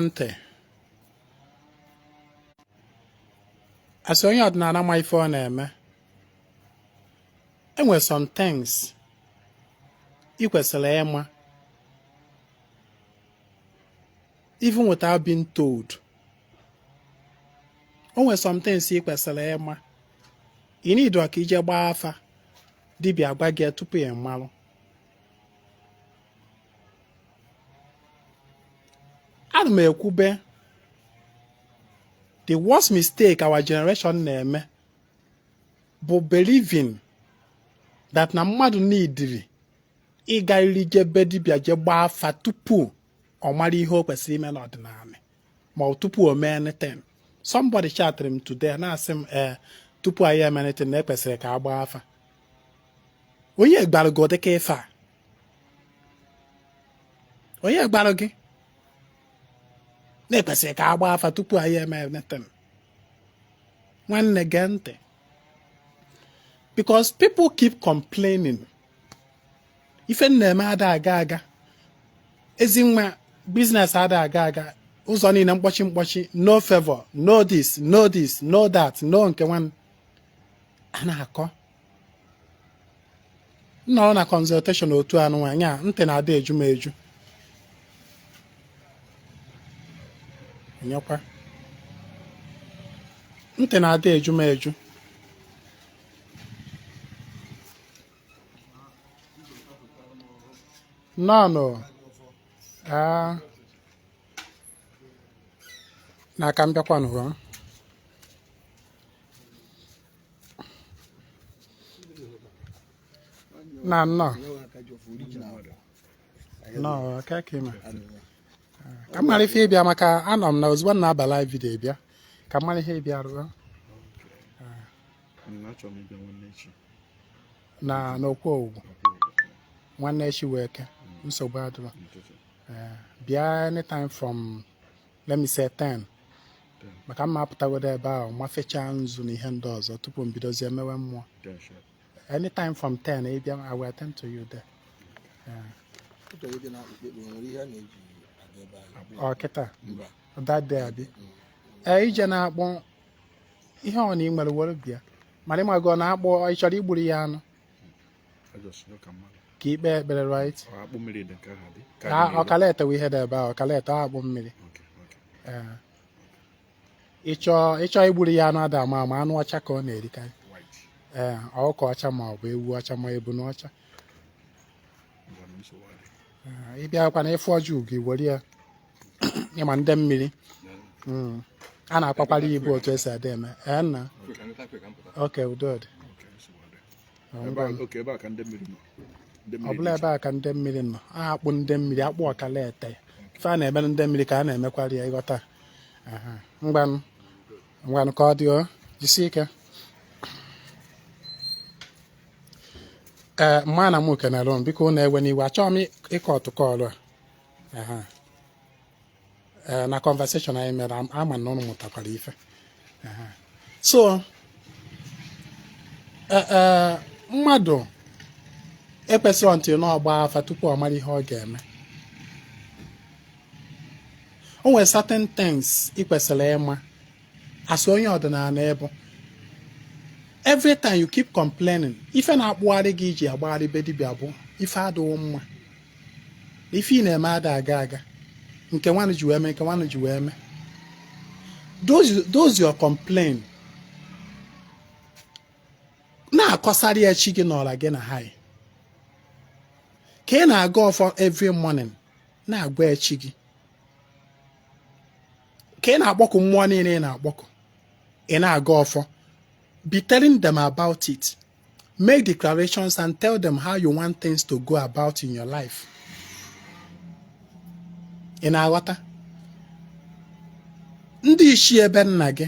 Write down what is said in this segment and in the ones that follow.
ntị asị onye ọdịnala ma ife ọ na-eme e nwe some things ị kwesịrị ịma even without being told o nwere some things ị kwesịrị ịma ị niidirọ ka i je gbaa afa dibịa agwa gị tupu ị malụ ana m ekwube the worst mistake our generation na-eme bụ believing that na mmadụ niidiri ịgarịrị je be dibịa je gbaa afa tupu ọ mara ihe o kwesịrị ime n'ọdịnala ma ọ tupu o mee anything somebody chatịrị m today na-asị m ee eh, tupu anyị eme anything na e kwesịrị ka a gbaa afa onye gwara gị ụdịka ife a onye gwara gị na e kwesịrị ka a gbaa afa tupu anyị eme anything nwanne gee ntị because people keep complaining ife m na-eme ada aga aga ezi nwa business ada aga aga ụzọ niile mkpọchi mkpọchi no favor no this no this no that no nke nwa a na-akọ nọrọ na consultation otu anụ nwaanyị a ntị na-ada eju m eju nyekwa ntị na-ada eju m eju nọọnụ n'aka m bịakwanụ na nnọọ nnọọ aka ka ịma ka m mara ife ị bịa maka anọ m na ozugbo m na-aba live video bịa ka m mara ihe ị bịa rụọ na n'okwu owuwu nwanne echi wụ Eke nsogbu adịrọ Eh, bịa anytime from let me say 10 maka m ma-apụtagodu ebe ahụ mafechaa nzu na ihe ndị ọzọ tupu m bidozie mewe mmụọ anytime from 10 ị bịa I will attend to you there ọ kịta that day abi ee ije na-akpọ ihe ọ na ị nwere were bịa mana ị mago ọ na-akpọ ị chọrọ igburu ya anụ ka i kpe ekpere right ọkala etewe ihe dị ebe a ọkala ete akpụ mmiri ị chọ igburu ya anụ ada ama ama anụ ọcha ka ọ na-erikarị ee ọkụkọ ọcha ma ọ bụ ewu ọcha ma ebuna ọcha ị bịakwa na ị fụ ọjị ugo i were ya ịma ndị mmiri hmm. a na-akwakwara ya ibu otu e si adị eme ee nna oke ụdịdị ọ bụla ebe a ka ndị mmiri nọ a kpọọ ndị mmiri a kpọọ ọkala ete ife a na-emere ndị mmiri ka a na-emekwara ya ị ghọta ngwanụ ngwanụ ka ọ dị o jisie ike ee mana m okenere m biko ụnụ ewena iwe achọghị m ịkọ ọtụkọ ọrụ a ee na conversation anyị mere ama m na ụnụ mụtakwara ife so e, e, mmadụ ekwesịrọ until na ọ gbaa afa tupu ọ mara ihe ọ ga-eme o nwere certain things ị kwesịrị ịma as onye ọdịnala ị bụ every time you keep complaining ife na-akpụgharị gị i ji agbagharị be dibịa bụ ife adịghị mma ife ị na-eme ada aga aga nke nwanụ ji wee mee nke nwanụ ji wee mee those your complain na-akọsara ya chi gị na ọra gị na ha ka ị na-agọ ọfọ every morning na-agwa ya chi gị ka ị na-akpọkụ mmụọ niile ị na-akpọkụ ị na-agọ ọfọ be telling them about it make declarations and tell them how you want things to go about in your life ị na-aghọta ndị ichie be nna gị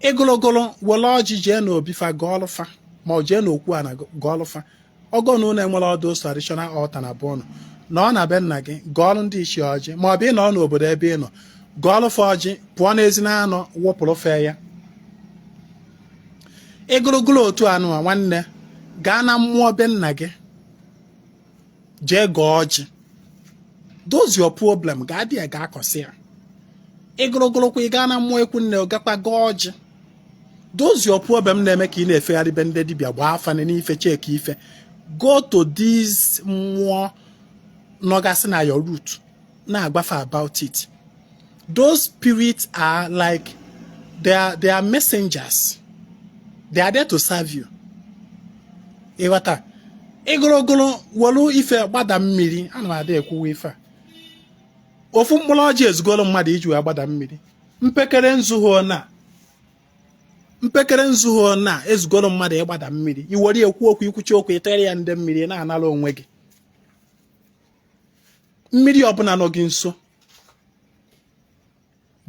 ịgụlogolo were ọjị jee n'obi fa gọọlụ fa ma ọ jee n'okwu ana gọọlụ fa ọ bụ na ụnụ enwerọ those traditional altar na be ụnụ nọ na be nna gị gọọlụ ndị ichie ọjị ma ọ bụ ị nọ n'obodo ebe ị nọ gọọlụ fa ọjị pụọ n'ezi na anọ wụpụrụ fa ya ịgụrụgụrụ otu anụ a nwanne gaa na mmụọ be nna gị jee gọọ ọjị those your problem gaa dị ya gaa kọsị ya ịgụrụgụrụkwa ị gaa na mmụọ ikwu nne gakwa gọọ ọjị those your problem na-eme ka ị na-efegharị be ndị dibịa gbaa afa nene ife cheki ife go to these mmụọ nọgasị na your root na-agwa fa about it those spirits are like they are, they are messengers they are there to serve you ị ghọta ịgụrụ ogụrụ welu ife gbada mmiri ana m ada ekwuwa ife a ofu mkpụrụ ọjị ezugoro mmadụ iji wee gbada mmiri mpeke mpekere nzu ahụ na ezugoro mmadụ ị gbada mmiri i were kwuo okwu i kwuchaa okwu ị tụọrọ ya ndị mmiri na-anara onwe gị mmiri ọbụla nọ gị nso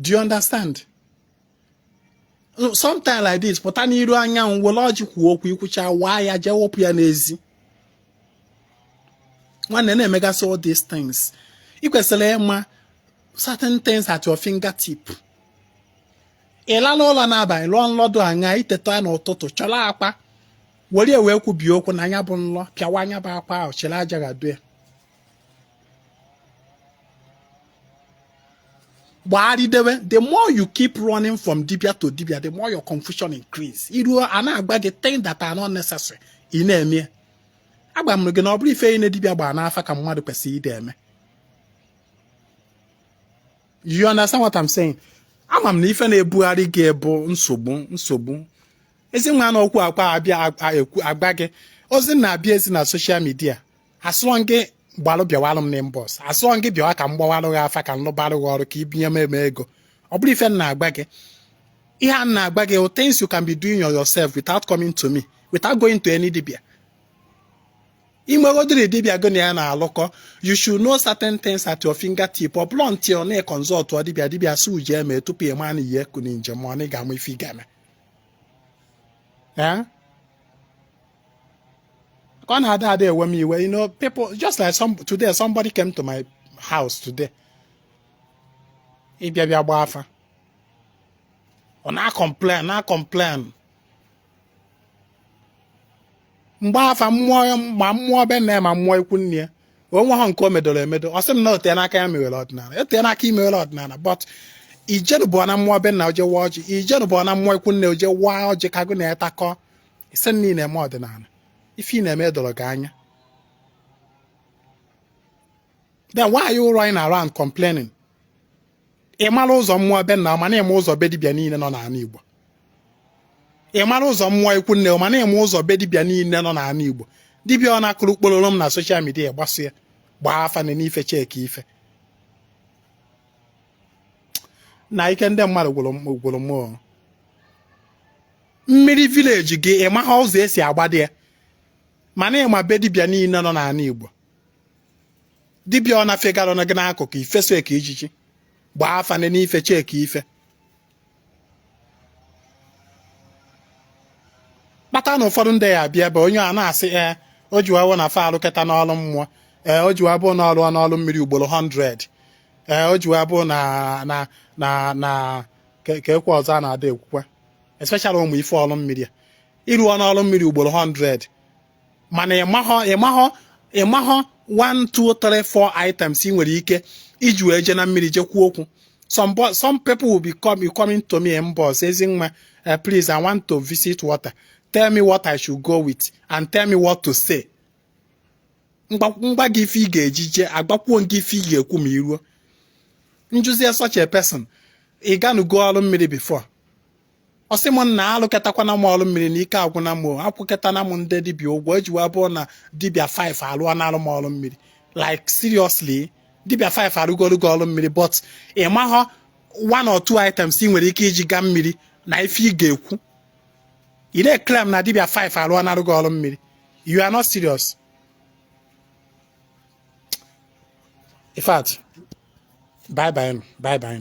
do you understand sometimes like this pụta n'iru anyanwụ were ọjị kwuo okwu ikwucha waa ya jee wepụ ya n'ezi nwanne na-emegasị all these things ị kwesịrị ịma certain things at your fingertip ị lala ụlọ n'abalị lọọ nlọ dụ anya iteta n'ụtụtụ chọrọ akwa were ya wee kwubie okwu na nya bụ nlọ pịawa nya bụ akwa ahụ chịrị aja ghado ya gbagharịdewe the more you keep running from dibia to dibia the more your confusion increase iruo a na-agwa gị things that are not necessary ị na-eme agwa m gị na ọ bụrọ ife niile dibia gbara n'afa ka mmadụ kwesịrị ide eme you understand what I'm saying ama m na ife na-ebugharị gị bụ nsogbu nsogbu ezi nwa na okwu akwa abịa agba gị ozi na-abịa ezi na social media asụọ gị gbalụ bịawalụ m n'inbox asụọ gị bịawa ka m gbawalụ gị afa ka m lụbalụ gị ọrụ ka ị bunye m ego ọ bụrọ ife m na-agwa gị ihe a na-agwa gị things you can be doing yourself without coming to me without going to any dibia inwegodiri dibia gị na ya na-alụkọ you should know certain things at your fingertip ọ bụrọ until na ị consultụọ dibia dibia si uji eme tupu ị maa na ihe kụ na njem ọ na ị ga-ama ife ị ga-eme ka ọ na-ada ada ewe m iwe you know people just like some today somebody came to my house today ịbịa bịa gbaa afa ọ na-acomplain na-acomplain m gbaa afa mmụọ ma mmụọ be nna ma mmụọ ikwu nne ya o nweha nke o medoro emedo ọ sị m na o teena aka ya mewere ọdịnala o teena aka i mewere ọdịnala but i jerubuna mmụọ be nna oje waa ọjị i jerubuna mmụọ ikwu nne oje waa ọjị ka gụ na ya takọọ ị sị na ị na-eme ọdịnala ife ị na-eme doro gị anya then why are you running around complaining ị mara ụzọ mmụọ be nna mana ịma ụzọ be dibịa niile nọ n'ala Igbo ị mara ụzọ mmụọ ikwu nne mana ịma ụzọ be dibịa niile nọ n'ala Igbo dibịa ọbụna kụrụ kpororom na social media gbaso ya gbaa afa nene ife checkie ife na ike ndị mmadụ gwụrụ m mmiri village gị ị maha ụzọ e si agbada ya mana ịma be dibịa niile nọ n'ala Igbo dibịa ọbụna fegara gị n'akụkụ i fesoe ka ijiji gbaa afa nee ife checkie ife kpata na ụfọdụ ndị ya abịa ebe onye a na-asị ee eh, o ji wawo na fa alụketana ọrụ mmụọ ee eh, o ji wabụ n'ọrụ n'ọrụ mmiri ugboro 100 ee eh, o ji wabụ na na na na ka ekwe ọzọ a na-ada ekwukwa especially ụmụ ife ọrụ mmiri ị rụọna ọrụ mmiri ugboro 100 mana ịmahọ ịmahọ ịmahọ 1 2 3 4 items ị nwere ike iji wee jee na mmiri jee kwuo okwu some some people will be come coming to me inbox ezi nwa eh, please i want to visit water tell me what i should go with and tell me what to say m gwa gị ife ị ga-eji jee agwakwuo gị ife ị ga-ekwu ma i ruo m jụzie such a person ị ganugo ọrụ mmiri before ọ sị m na alụketakwana m ọrụ mmiri na ike agwụna m akwụketana m ndị dibịa ụgwọ eji wee bụrụ na dibịa 5 alụọnalụ m ọrụ mmiri like seriously dibịa 5 arụgoro gị ọrụ mmiri but ị maghọ one or two items ị nwere ike iji gaa mmiri na ife ị ga-ekwu ị na-claim na dibịa 5 alụọnarụ gị ọrụ mmiri you are not serious in fact bye bye bye bye